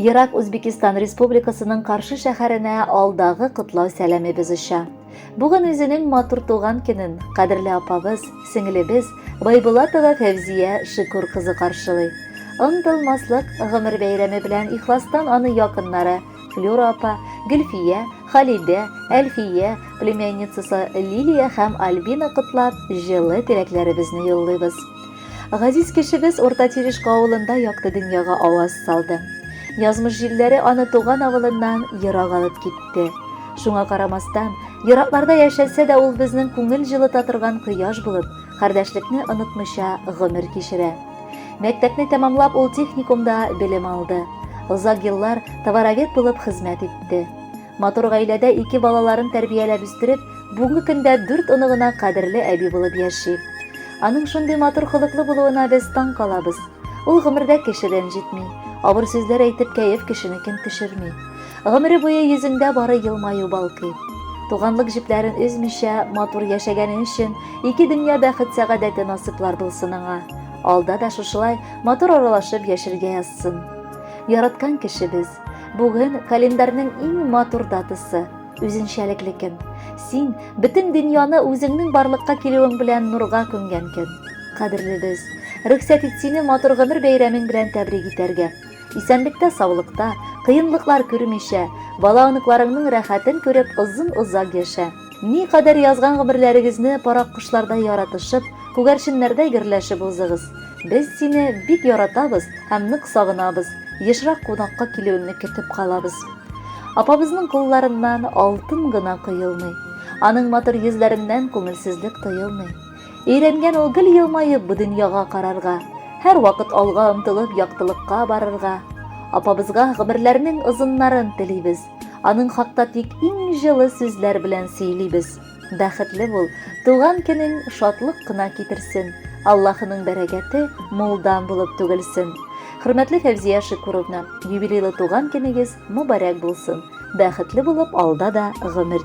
Ерак Үзбекистан Республикасының Каршы шәһәренә алдагы котлау сәламебез оча. Бүген үзенең матур туган көнен кадерле апабыз, сеңлебез Байбулатова Фәвзия Шикур кызы каршылый. Онтылмаслык гомер бәйрәме белән ихластан аны якыннары Флюра апа, Гөлфия, Халидә, Әлфия, племянницасы Лилия һәм Альбина котлап, җылы теләкләребезне юллыйбыз. Газиз кешебез Урта Тирешка авылында якты дөньяга аваз салды. Язмыш җилләре аны туган авылыннан ерак алып китте. Шуңа карамастан, еракларда яшәсә дә ул безнең күңел җылыта торган кояш булып, кардәшлекне онытмыйча гомер кичерә. Мәктәпне тәмамлап ул техникумда белем алды. Озак еллар товаровед булып хезмәт итте. Матур гаиләдә ике балаларын тәрбияләп үстереп, бүгенге көндә дүрт оныгына кадерле әби булып яши. Аның шундый матур холыклы булуына без таң калабыз. Ул гомердә кеше рәнҗетми, авыр сүзләр әйтеп кәеф кешене ким төшерми. Гомере буе йөзендә бары елмаю балкый. Туганлык җепләрен өзмичә, матур яшәгәне өчен ике дөнья бәхет сәгадәте насыплар булсын аңа. Алда да шушылай матур аралашып яшергә язсын. Яраткан кешебез, Бүген календарьның иң матур датасы, үзенчәлекле көн. Син бөтен дөньяны үзеңнең барлыкка килүең белән нурга күмгән көн. Кадерлебез, рөхсәт ит сине матур гомер бәйрәмең белән тәбрик итәргә. Исәнлектә, саулыкта, кыенлыклар күрмичә, бала-оныкларыңның рәхәтен күреп озын-озак яшә. Никадәр язган гомерләрегезне парак кошлардай яратышып, күгәрченнәрдәй гөрләшеп узыгыз. Без сине бик яратабыз һәм нык сагынабыз. Ешрак кунакка килүеңне көтеп калабыз. Апабызның кулларыннан алтын гына коелмый. Аның матур йөзләреннән күңелсезлек тоелмый. Өйрәнгән ул гел елмаеп бу дөньяга карарга, һәр вакыт алга омтылып яктылыкка барырга. Апабызга гомерләрнең озыннарын телибез. Аның хакта тик иң җылы сүзләр белән сөйлибез. Бәхетле бул, туган көнең шатлык кына китерсен. Аллаһының бәрәкәте мулдан булып түгелсен. Хөрмәтле Фәвзия Шикуровна, юбилейлы туган көнегез мөбарәк булсын. Бәхетле булып алда да гомер